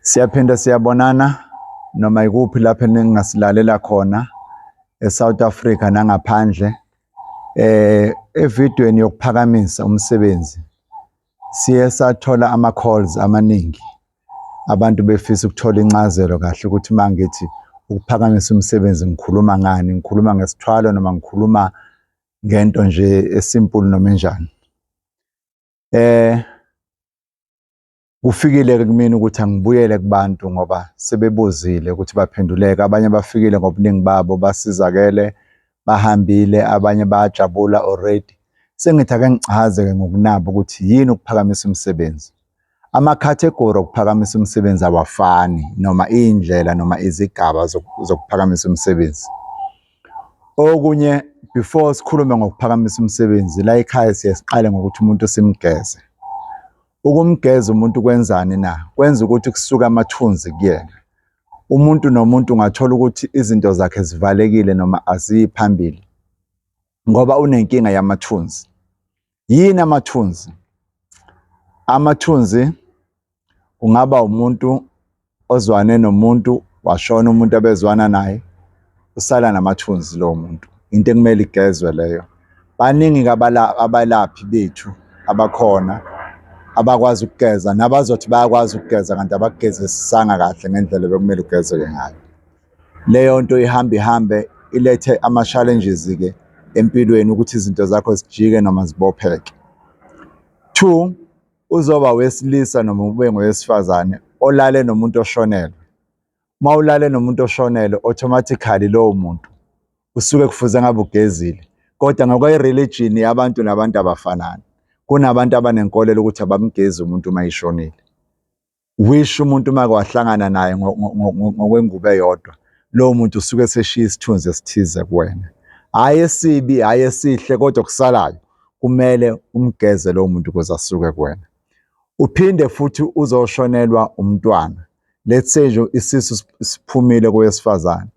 Siyaphinda siyabonana noma ikuphi lapho ningasilalela khona eSouth Africa nangaphandle. Eh evidweni yokuphakamisa umsebenzi siye sathola ama calls amaningi. Abantu befisa ukuthola incazelo kahle ukuthi mangithi ukuphakamisa umsebenzi ngikhuluma ngani, ngikhuluma ngesithwalo noma ngikhuluma ngento nje esimple noma enjani. Eh kufikile ke kumina ukuthi angibuyele kubantu ngoba sebebuzile ukuthi baphenduleka abanye bafikile ngobuningi babo basizakele bahambile abanye bayajabula already sengithi ake ngichaze ke ngokunabo ukuthi yini ukuphakamisa umsebenzi amakhathegori okuphakamisa umsebenzi awafani noma iy'ndlela noma izigaba zokuphakamisa umsebenzi Okunye before sikhulume ngokuphakamisa umsebenzi la ekhaya siye siqale ngokuthi umuntu simgeze. Ukumgeza umuntu kwenzani na? Kwenza ukuthi kusuke amathunzi kuyena. Umuntu nomuntu ungathola ukuthi izinto zakhe zivalekile noma aziyi phambili ngoba unenkinga yamathunzi. Yini amathunzi? Amathunzi kungaba umuntu ozwane nomuntu washona umuntu abezwana naye usala namathunzi lowo muntu into ekumele igezwe leyo baningi abalaphi bethu abakhona abakwazi ukugeza nabazothi bayakwazi ukugeza kanti abakugezisisanga kahle ngendlela bekumele ugezeke ngayo Leyo nto ihamba ihambe ilethe ama-challenges-ke empilweni ukuthi izinto zakho zijike noma zibopheke. Two, uzoba wesilisa noma ube ngowesifazane olale nomuntu oshonelwe. Uma ulale nomuntu oshonelwe automatically lowo muntu usuke kufuze ngabe ugezile kodwa ngokwe-religion yabantu nabantu abafanani kunabantu abanenkolelo ukuthi abamgezi umuntu uma eshonile wish umuntu uma wahlangana naye ngokwengubo eyodwa lowo muntu usuke eseshiya isithunzi esithize kuwena hhayi esibi hhayi esihle kodwa kusalayo kumele umgeze lowo muntu ukuze asuke kuwena uphinde futhi uzoshonelwa umntwana let's say nje isisu siphumile kowesifazane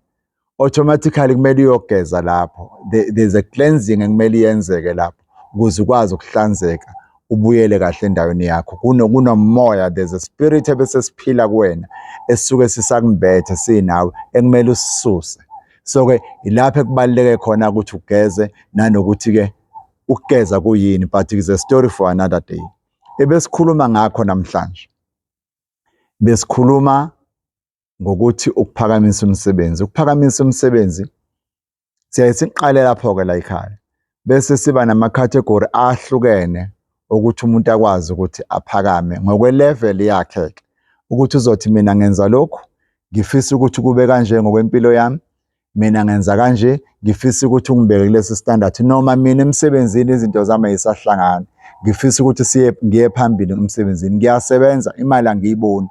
automatically kumele uyogeza lapho there's a cleansing ekumele yenzeke lapho ukuze ukwazi ukuhlanzeka ubuyele kahle endaweni yakho kunomoya there's a spirit ebese siphila kuwena esisuke sisakumbethe sinawe ekumele usisuse so ke ilapho ekubaluleke khona ukuthi ugeze nanokuthi ke ukugeza kuyini but is a story for another day ebesikhuluma ngakho namhlanje besikhuluma ngokuthi ukuphakamisa umsebenzi. Ukuphakamisa umsebenzi siyaye siqale lapho-ke la ekhaya bese siba nama-category ahlukene ukuthi umuntu akwazi ukuthi aphakame ngokwe-level yakhe-ke ukuthi uzothi mina ngenza lokhu ngifisa ukuthi kube kanje ngokwempilo yami mina ngenza kanje ngifisa ukuthi ungibeke kulesi standard noma mina emsebenzini izinto zami ayisahlangani ngifisa ukuthi siye ngiye phambili emsebenzini ngiyasebenza imali angiyiboni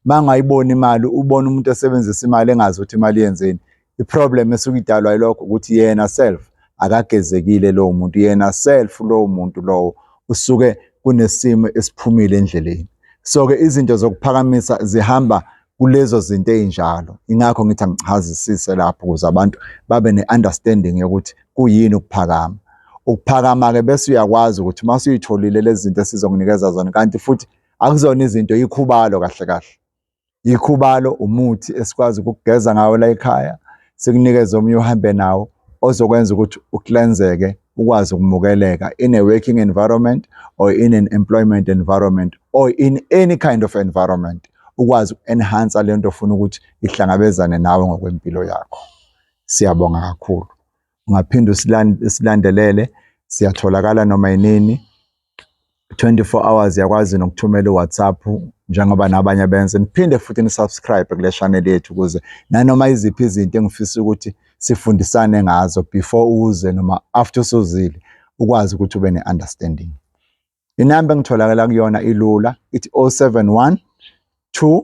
mangayiboni imali ubona umuntu esebenzisa imali engazi ukuthi imali yenzeni iproblem esuke idalwa yilokho ukuthi yena self akagezekile lowo muntu yena self lowo muntu lowo usuke kunesimo esiphumile endleleni so ke izinto zokuphakamisa zihamba kulezo zinto ezinjalo ingakho ngithi angichazisise lapho ukuze abantu babe ne-understanding yokuthi kuyini ukuphakama ukuphakama-ke bese uyakwazi ukuthi uma usuyitholile lezi zinto esizokunikeza zona kanti futhi akuzona izinto yikhubalo kahle kahle yikhubalo umuthi esikwazi ukugeza ngawo la ekhaya sikunikeze omunye uhambe nawo ozokwenza ukuthi uklenzeke ukwazi ukumukeleka in a working environment or in an employment environment or in any kind of environment ukwazi uku-enhancer le nto ofuna ukuthi ihlangabezane nawe ngokwempilo yakho siyabonga kakhulu ungaphinde usilandelele siyatholakala noma yinini 24 hours yakwazi nokuthumela uWhatsApp njengoba nabanye benze niphinde futhi nisubscribe kule channel yethu ukuze nanoma iziphi izinto engifisa ukuthi sifundisane ngazo before uze noma after usuzile ukwazi ukuthi ube ne-understanding inamba engitholakala kuyona ilula ithi 071 2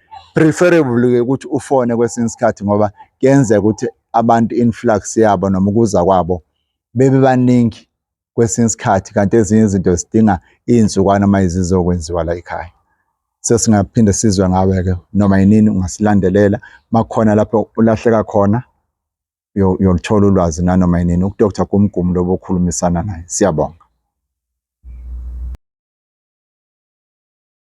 preferably ukuthi ufone kwesinye isikhathi ngoba kuyenzeka ukuthi abantu influx yabo noma ukuza kwabo bebe baningi kwesinye isikhathi kanti ezinye izinto zidinga izinsukwana uma izizokwenziwa la ekhaya sesingaphinde sizwe ngawe-ke noma yinini ungasilandelela makukhona lapho ulahleka khona uyoluthola ulwazi nanoma yinini udr gumgumu lobo okhulumisana naye siyabonga